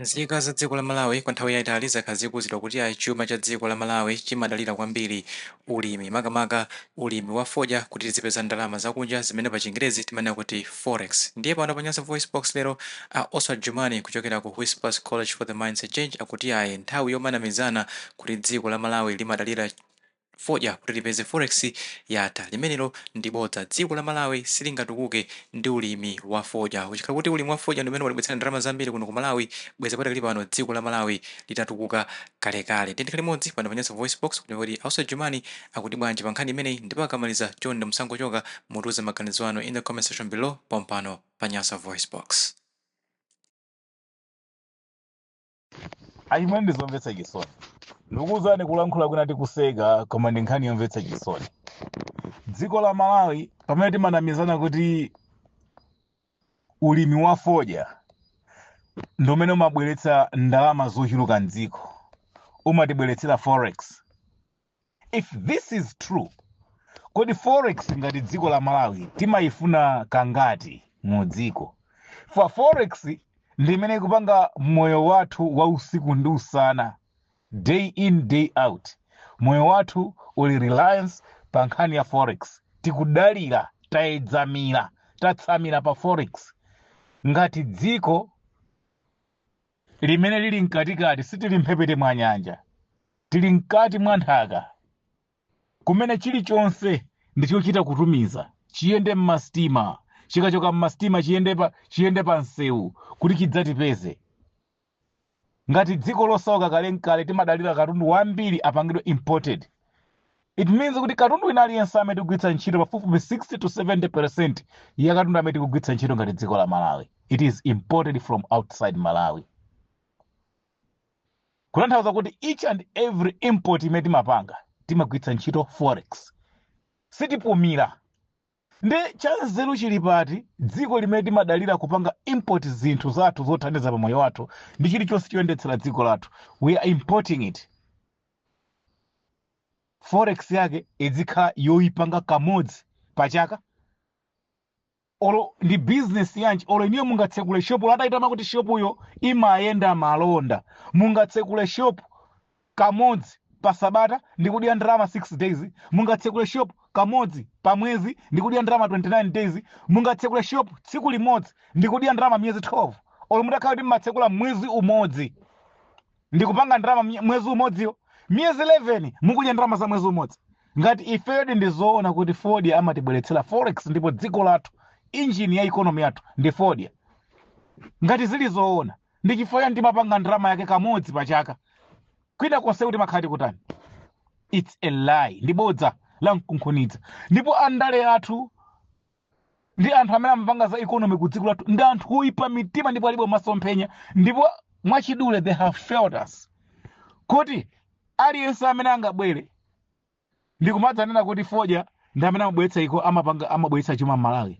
Nzika za dziko la Malawi kwa nthawi yaitali zakhala zikuuzidwa kuti ayi chuma cha dziko la Malawi chimadalira kwambiri ulimi makamaka ulimi wa fodya kuti tizipeza ndalama zakunja zimene pa chingerezi timanena kuti Forex ndiye pano pa Nyasa VoiceBox lero a Oswald Jumani kuchokera ku Whispers College for the Mindset Change akuti ayi nthawi yomanamizana kuti dziko la Malawi limadalira fodya kuti lipeze forex yatha limenelo ndi bodza dziko la malawi silingatukuke ndi ulimi wa fodya kuchikhala kuti ulimi wa fodya ndi umene watibweretsera ndalama zambiri kuno ku malawi bwezi padakali pano dziko la malawi litatukuka kalekale tiyeni tikhale limodzi pano pa nyasa voice box kuti kuti a oswald jumani akuti bwanji pa nkhani imeneyi ndipo akamaliza chonde musangochoka mutiuze maganizo anu in the comment section below pompano pa nyasa voice box achimwene ndizomvetsa chisoni ndikuwuzani kulankhula kwina tikuseka koma ndi nkhani yomvetsa chisoni dziko la malawi pamene timanamizana kuti ulimi wa fodya ndi umene umabweretsa ndalama zochuluka mdziko umatibweretsera forex if this is true kodi forex ngati dziko la malawi timayifuna kangati mu dziko chifukwa forex ndi imene ikupanga moyo wathu wa usiku ndi usana day in day out moyo wathu uli reliance pa nkhani ya forex tikudalira tayedzamira tatsamira pa forex ngati dziko limene lili mkatikati sitili mphepete mwa nyanja tili mkati mwa nthaka kumene chilichonse ndichochita kutumiza chiyende mmasitima chikachoka mmasitima chiyende pa chiyende pa msewu kuti chidzatipeze ngati dziko losauka kale ndi kale timadalira katundu wambiri apangidwe imported It means kuti katundu wina aliyense amene tikugwiritsa ntchito pafupifupi 60 to 70 percent ya katundu amene tikugwiritsa ntchito ngati dziko la malawi it is imported from outside malawi kutanthauza kuti each and every import imene timapanga timagwiritsa ntchito forex sitipumira Nde chanzeru chili pati dziko limene timadalira kupanga import zinthu zathu zothandiza pa moyo wathu ndi chilichonse choyendetsera dziko lathu we are importing it forex yake izikhala yoyipanga kamodzi pachaka olo ndi business yanji olo inuyo mungatsekule shopu olo mutayitama kuti shopuyo imayenda malonda mungatsekule shopu kamodzi pa sabata ndi kudya ndalama 6 days, mungatsekule shop kamodzi pa mwezi ndi kudya ndalama 29 days, mungatsekule shop tsiku limodzi ndi kudya ndalama miyezi 12 olo mutakhala kuti mmatsekula mwezi umodzi ndi kupanga ndalama mye- mwezi umodziyo miyezi 11 mukudya ndalama za mwezi umodzi ngati ifedi ndi zoona kuti fodya amatibweretsera forex ndipo dziko lathu engine ya economy yathu ndi fodya ngati zili zoona ndi chifukwa chani timapanga ndalama yake kamodzi pa chaka kwina konse kuti makhala tikutani its a lie ndi bodza lamkunkhuniza ndipo andale athu ndi anthu amene amapanga za economy ku dziko lathu ndi anthu oyipa mitima ndipo alibe masomphenya ndipo mwachidule they have failed us kuti aliyense amene angabwere ndi kumadzanena kuti fodya ndi amene amabweretsa iko amapanga amabweretsa chuma m'Malawi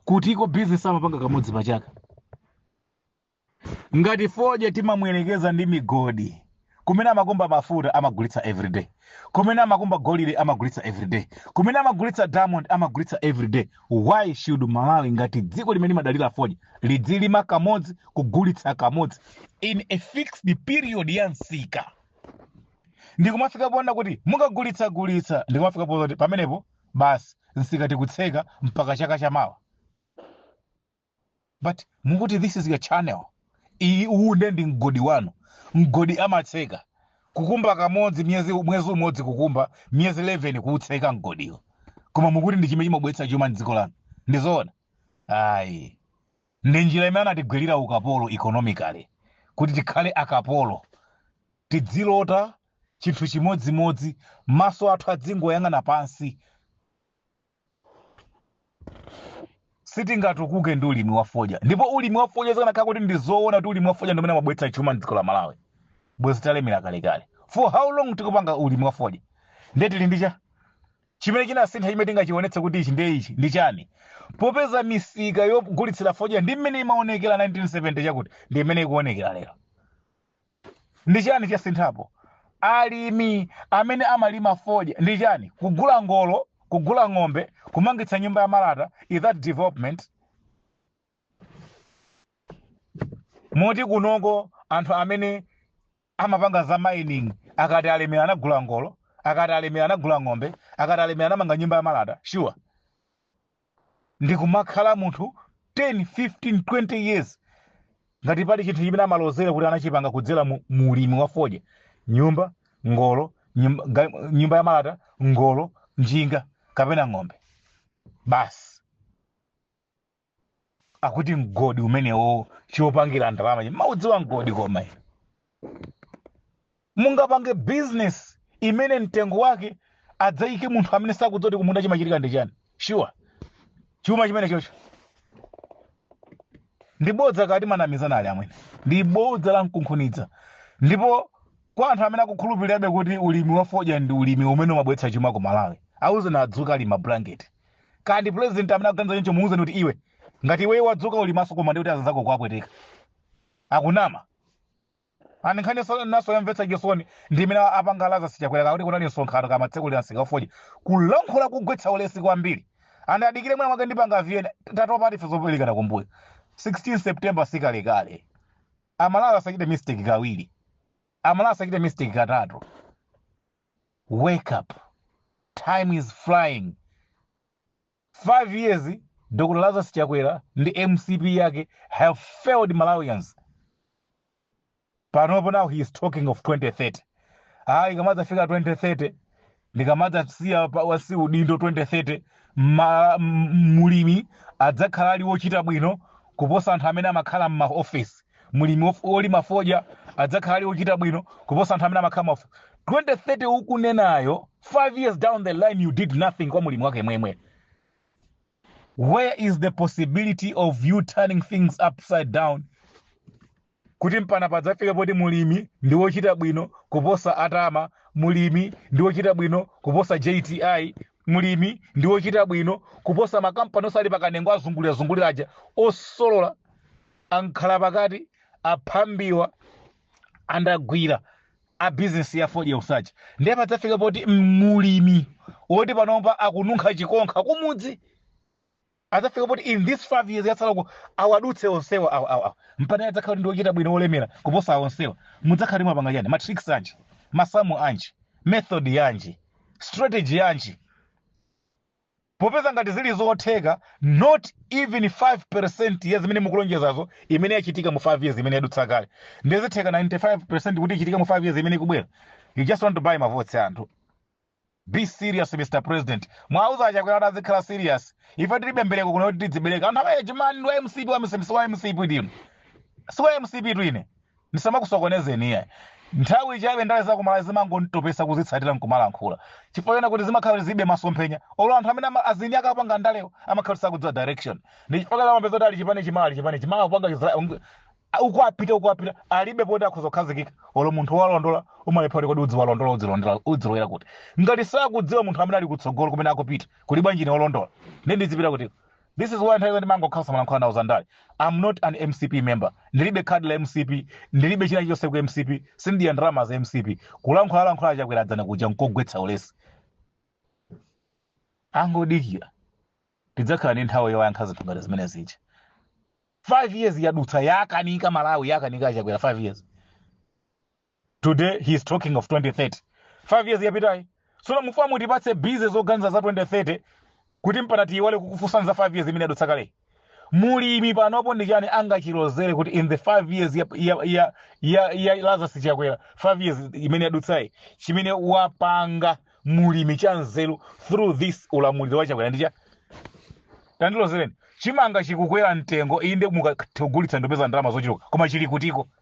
kuti iko bizinesi amapanga kamodzi pa chaka ngati fodya timamuyerekeza ndi migodi kumene amakumba mafuta amagulitsa everyday kumene amakumba golide amagulitsa everyday kumene amagulitsa diamond amagulitsa everyday why should malawi ngati dziko limene limadalira fodya lidzilima kamodzi kugulitsa kamodzi in a fixed period ya msika ndikumafika poona kuti mungagulitsegulitse ndikumafika ponena kuti pamenepo basi nsika tikutseka mpaka chaka chamawa but mukuti this is your channel iyi uwu nde ndi mgodi wanu mgodi amatseka kukumba kamodzi miyezi mwezi umodzi kukumba miyezi 11 kuutseka mgodiwo koma mukuti ndi chimene chimabweretsa chuma mdziko lanu ndizoona ayi ndi njira imene anatigwirira ukapolo economically kuti tikhale akapolo tidzilota chinthu chimodzimodzi maso athu adzingoyang'ana pansi sitingatukuke ndi ulimi wa fodya ndipo ulimi wa fodya zikanakhala kuti ndi zoona kuti ulimi wa fodya ndi umene amabweretsa chuma mdziko la malawi bwezi talemera kalekale for how long tikupanga ulimi wa fodya ndiye tili ndi cha Chimene chinasintha chimene tingachiwonetse kuti ichi ndiye ichi ndi chani? Popeza misika yogulitsira fodya ndi mmene imawonekera 1970 chakuti ndi mmene ikuwonekera lero. Ndi chani chasinthapo? Alimi amene amalima fodya ndi chani? Kugula ngolo, kugula ng'ombe, kumangitsa nyumba ya malata, is that development? Moti kunoko anthu amene. amapanga za mining akati alemera anagula ngolo akati alemera anagula ng'ombe akati alemera anamanga nyumba ya malata sure ndikumakhala munthu 10 15 20 years ngati pali chinthu chimene amalozera kuti anachipanga kudzera mu, mu ulimi wa fodya nyumba ngolo nyumba, ga- nyumba ya malata ngolo njinga kapena ng'ombe basi akuti mgodi umenewo chopangira ndalama chi mumaudziwa mgodi koma inu? mungapange business imene mtengo wake adzayike munthu amene sakudziwa kuti kumunda chimachitika ndi chani sure chuma chimenechocho ndi bodza katimanamizana ali amwene ndi bodza lamkunkhuniza ndipo kwa anthu amene akukhulupirirabe kuti ulimi wa fodya ndi ulimi umene umabweretsa chuma ku malawi awuzeni adzuke ali mmabulangeti kaya ndi president amene akuganiza choncho muuzeni kuti iwe ngati iweyo wadzuka uli maso koma ndikuti azanzako kuwapweteka akunama ani nkhani so- naso yamvetsa chisoni ndi imene apanga a Lazarus Chakwera kakuti kunali msonkhano kumatsekulira msika wa fodya kulankhula kugwetsa ulesi kwambiri and adikire mwina mwake ndipanga viyena tatopa ife zoberekana kumbuyo 16 september sikalekale amalawi asachite mistake kawiri amalawi asachite mistake katatu wake up time is flying 5 years dr lazarus chakwera ndi mcp yake have failed malawians panopo now he is talking of 2030 ayi ikamadzafika 2030 ndikamadzasiya pansi udindo 2030 ma- m- mulimi adzakhala ali wochita bwino kuposa anthu amene amakhala m'maofesi mlimi wof- wolima fodya adzakhala ali wochita bwino kuposa anthu amene amakhala m'maof- 2030 ukunenayo 5 years down the line you did nothing kwa mlimi wake mwemwe where is the possibility of you turning things upside down kuti mpaka padzafike poti mulimi ndi wochita bwino kuposa atama mulimi ndi wochita bwino kuposa jti mulimi ndi wochita bwino kuposa makampani osali pakanengo azungulira zungulira aja osolola amkhalapakati aphambiwa andagwira a bizinesi ya fodya usaja ndiye padzafika poti mlimi woti panopa akununkha chikonkha kumudzi adzafika poti in this five years yatsalayo awadutse onsewa awa awa awa mpaka adzakhala kuti ndiochita bwino olemera kuposa awo onsewa mudzakhala mwapanga chani matrix anji masamu anji method yanji strategy yanji Popeza ngati zili zotheka not even 5% ya zimene mukulonjezazo imene yachitika mu 5 years imene yadutsa kale ndiye zitheka 95% kuti ichitike mu 5 years imene ikubwera you just want to buy mavotes ya anthu be serious mr president muwauze a Chakwera kuti azikhala serious ife tilibe mbereko kuno kuti tidzibereka anthu amene chimani ndi wa mcp wa mcp si wa mcp ndinu si wa mcp tu ine ndisamakusokonezeni iyayi nthawi chabe ndale za kumalawi zimangonditopesa kuzitsatira nkumalankhula chifukwa chona kuti zimakhala kuti zilibe masomphenya olo anthu amene ama- azinzake opanga ndalewo amakhala kuti sakudziwa direction ndi chifukwa chake umapeza kuti ali chipani chimala ali chipani chimala kupanga chizra- ung- a- uko apita uko apita alibe poti akhoza kukhazikika olo munthu walondola umalephera kuti kodi udziwalondola udzilondola udzilowera kuti ngati sakudziwa munthu amene ali kutsogolo kumene akupita kuli bwanji ine olondola ine ndizipita kuti This is why nthawi zina ndimangokhala osamalankhula nawo zandale. I'm not an MCP member. Ndilibe card la MCP, ndilibe china chonse ku MCP, sindidya ndalama za MCP. Kulankhula lankhula a Chakwera dzana kuja nkogwetsa ulesi. Angodikira. Tidzakhala ndi nthawi yoyankha zinthu ngati zimene zija. 5 years yadutsa yakanika Malawi yakanika a Chakwera 5 years. today he is talking of 2030 5 years yapitayi sono mufuna mutipatse busy zoganiza za 2030 kuti mpana tiyiwale kukufunsani za 5 years imene adutsa kale mulimi panopo ndi chani angachilozere kuti in the 5 years ya, ya, ya, ya, ya lazarus chakwera 5 years imene yadutsayi chimene wapanga mulimi cha nzeru through this ulamuliro wa chakwera ndi chani tandilozereni chimanga chikukwera mtengo inde mukagulitsa mukupeza ndalama zochuluka koma chili kutiko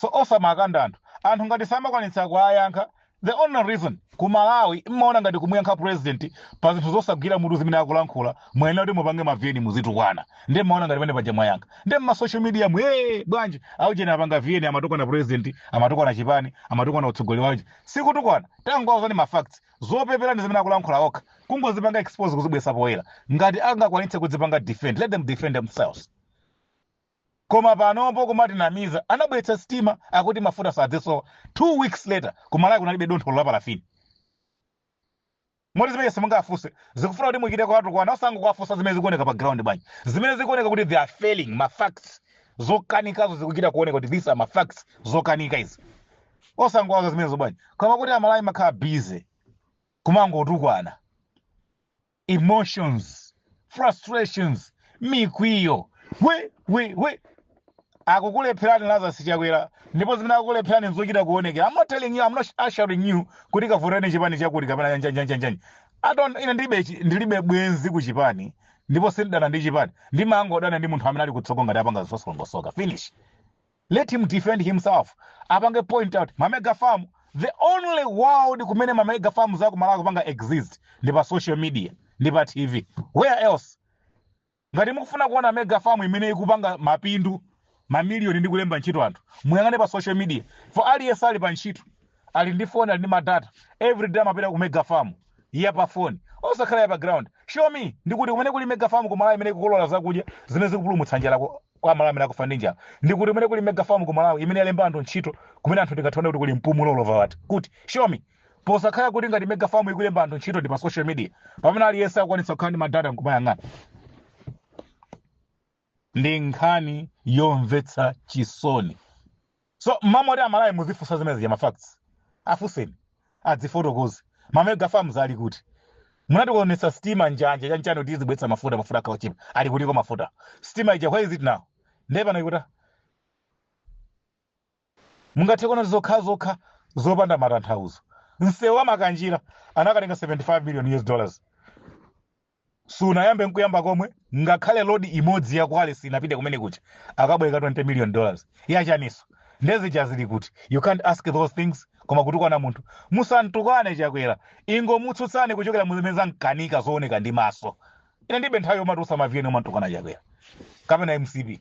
so osamakanda anthu anthu ngati samakwanitsa kuwayankha the only reason ku malawi mmaona ngati kumuyankha president pa zinthu zosagwira mutu zimene akulankhula muyenera kuti mupange maviyeni muzitukwana ndi mmaona ngati pamene paja mwayankha ndi mma social media mu ee bwanji aujeni apanga viyeni amatukwana president amatukwana chipani amatukwana utsogoleri wache sikutukwana tangowauzani ma facts zopepera ndi zimene akulankhula okha kungozipanga expose kuzibweretsa poyera ngati angakwanitse kudzipanga defend let them defend themselves Koma panopo kumatinamiza anabweretsa sitima akuti mafuta sadzisowa 2 weeks later ku Malawi kunalibe dontho olo la parafini. Moti zimene simungafunse zikufuna kuti muchite kuwatukwana osangowafunsa zimene zikuoneka pa ground bwanji. Zimene zikuoneka kuti they are failing ma facts zokanikazo zikuchita kuoneka kuti these are ma facts zokanika izi. Osangowauza zimenezo bwanji. Koma kuti Amalawi mmakhala busy kumangotukwana. emotions frustrations mikwiyo we we we akukulepherani lazarus chakwera ndipo zimene akukulepherani nzochita kuonekera i'm not telling you i'm not assuring you kuti kavotani chipani chakuti kapena njanjanjanjanjani i don't ine ndilibe chi- ndilibe bwenzi ku chipani ndipo sindidana ndi chipani ndimangodana ndi munthu amene ali kutsogolo ngati apanga zosalongosoka finish let him defend himself apange point out ma mega farm the only world kumene ma mega farm za ku malawi zikupanga exist ndi pa social media ndi pa tv where else ngati mukufuna kuona mega farm imene ikupanga mapindu mamiliyoni ndi kulemba ntchito anthu muyang'ane pa social media for aliyense ali pa ntchito ali ndi phone ali ndi madata everyday amapita ku mega farm ya pa phone osakhala ya pa ground show me ndikuti kumene kuli mega farm ku malawi imene ikukolola zakudya zimene zikupulumutsa njala ku- kwa amalawi amene akufa ndi njala ndikuti kumene kuli mega farm ku malawi imene yalemba anthu ntchito kumene anthu tingathe kuona kuti kuli mpumulo olova wati kuti show me posakhala kuti ngati mega farm ikulemba anthu ntchito ndi pa social media pamene aliyense akukwanitsa kukhala ndi madata nkumayang'ana ndi nkhani yomvetsa chisoni so mmalo moti amalawi muzifunsa zimene zija mafacts afunseni adzifotokoze mamega farms ali kuti munatiwonetsa stima njanja chanchani kuti izibweretsa mafuta mafuta akhale otchipa ali kutiko mafuta stima ija where is it now ndiye pano ikuta Mungathe kuona ndi zinthu zokhazokha zopanda matanthauzo. Msewu wa Makanjira anakatenga 75 million US dollars. Sunayambe nkuyamba komwe ngakhale load imodzi ya kwale sinapite kumene kuja. Akabwereka 20 million dollars. Yachaninso. Nde zija zili kuti. You can't ask those things koma kutukwana munthu. Musamtukwane Chakwera. Ingomutsutsani kuchokera muzimene zamkanika zooneka ndi maso. ine ndibe nthawi yomati usamaviyeni umamtukwana chakwera kapena mcp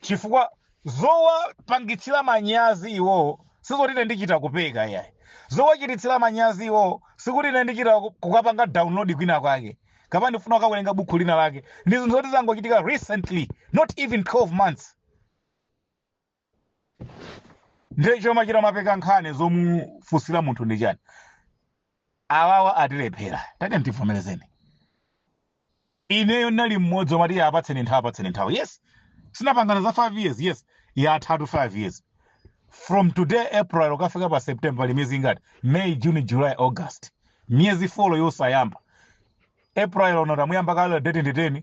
chifukwa zowapangitsira manyazi iwowo sizoti ine ndichita kupeka yayi zowachititsira manyazi iwowo sikuti ine ndichita ku- kukapanga download kwina kwake kapena ndifuna kukawerenga bukhu lina lake ndi zinthu zoti zangochitika recently not even 12 months ndiye chomachita mapeka nkhani zomufunsira munthu nchani awawa atilephera tati ndivomerezeni ineyo ndinali mmodzi omati iye apatseni nthawi apatseni nthawi yes sitinapangana za 5 years yes yathatu 5 years from today april ukafika pa september pali miyezi ingati may june july august miyezi folo yosayamba april uno tamuyamba kale date ndi 10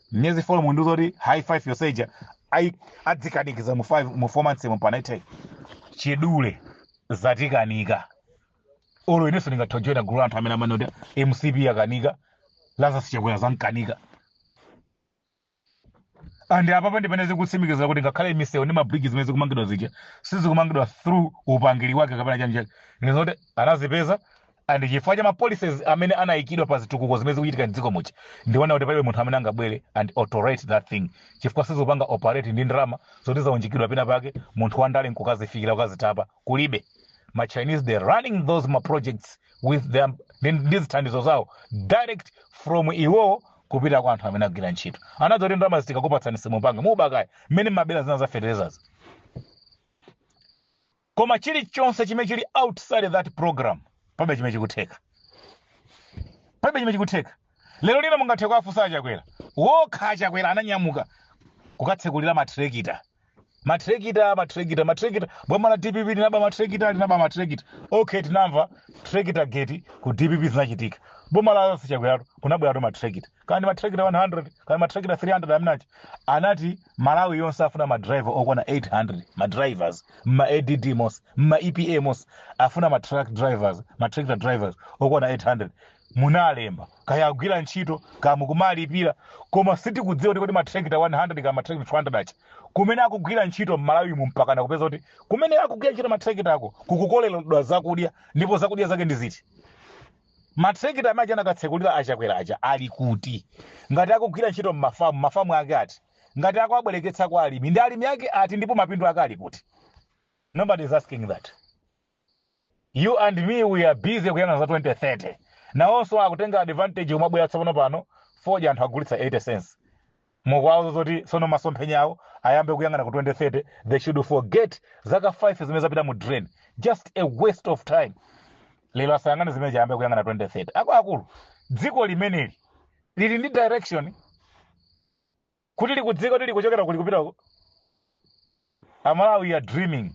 miyezi four mu ndizoti high five yonse ija ayi adzikanikiza mu five mu four months mu panaithe chidule zatikanika olo inenso ndingathe kujoina gulu la anthu amene amanena kuti mcp yakanika lazarus chakwera zamkanika and apapa ndi pamene zikutsimikizira kuti ngakhale misewu ndi mabridge zimene zikumangidwa zija sizikumangidwa through upangiri wake kapena chani chake ndizoti anazipeza and chifukwa cha ma policies amene anayikidwa pa zitukuko zimene zikuchitika mdziko muno ndiona kuti palibe munthu amene angabwere and alter that thing chifukwa sizikupanga operate ndi ndalama zoti zaunjikidwa pena pake munthu wandale nkukazifikira kukazitapa kulibe ma chinese they running those ma projects with them ndi ndi zithandizo zawo direct from iwowo kupita kwa anthu amene agwira ntchito anadziwa kuti ndalama zitikakupatsani simupanga mubakaya mmene mumabera zina za fertilizers koma chilichonse chimene chili outside that program palibe chimene chikutheka palibe chimene chikutheka lero lino mungathe kuwafunsa achakwera okha achakwera ananyamuka kukatsekulira matrekita matrekita matrekita matrekita boma la dpp linaba matrekita linaba matrekita okay tinamva trekita gate ku dpp zinachitika boma la a chakweratu kunabweratu matrekita kaya ndi matrekita 100 kaya matrekita 300 anati anati malawi yonse afuna madriver okwana 800 madrivers mma add monse mma epa monse afuna matruck drivers matrekita drivers okwana 800 munalemba kaya agwira ntchito kaya mukumalipira koma sitikudziwa kuti kodi matrekita 100 kaya matrekita 200 aja kumene akugwira ntchito mmalawi mu mpakana kupeza kuti kumene akugwira ntchito matrekita ako kukukoleredwa zakudya ndipo zakudya zake ndi ziti Ma tractor amene aja anakatsekulira a Chakwera aja ali kuti? Ngati akugwira ntchito mmafamu, mafamu ake ati? Ngati akuwabwereketsa kwa alimi, ndi alimi ake ati ndipo mapindu ake ali kuti? Nobody is asking that. You and me we are busy kuyang'ana za 2030. Nawonso akutenga advantage kumabwera tsopano pano fodya anthu agulitsa 80 cents. Mukuwauza zoti sono masomphenya awo ayambe kuyang'ana ku 2030 they should forget zaka 5 zimene zapita mu drain just a waste of time lero asayang'ane zimenezo ayambe kuyang'ana 2030 akuluakulu dziko limeneli lili ndi direction kuti likudziwa kuti likuchokera kuti likupitako Amalawi are dreaming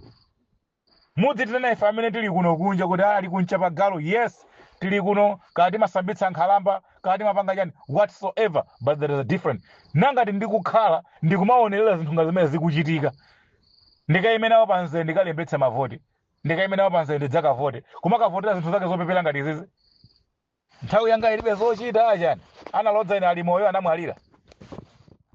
Muzitinena ife amene tili kuno kunja kuti ali ku Ntchapagalu, yes, tili kuno, kaya timasambitsa nkhalamba, kaya timapanga chani, whatsoever, but there is a different. Nanga ndikukhala ndikumaonelela zinthu ngati zimene zikuchitika. Ndikaime nawo pa mzere ndikalembetse mavoti, ndikaime nawo pa mzere ndidzakavote. Kumakavotera zinthu zake zopepera ngati izizi? Nthawi yanga ilibe zochita, chani? Analodza ine ali moyo anamwalira?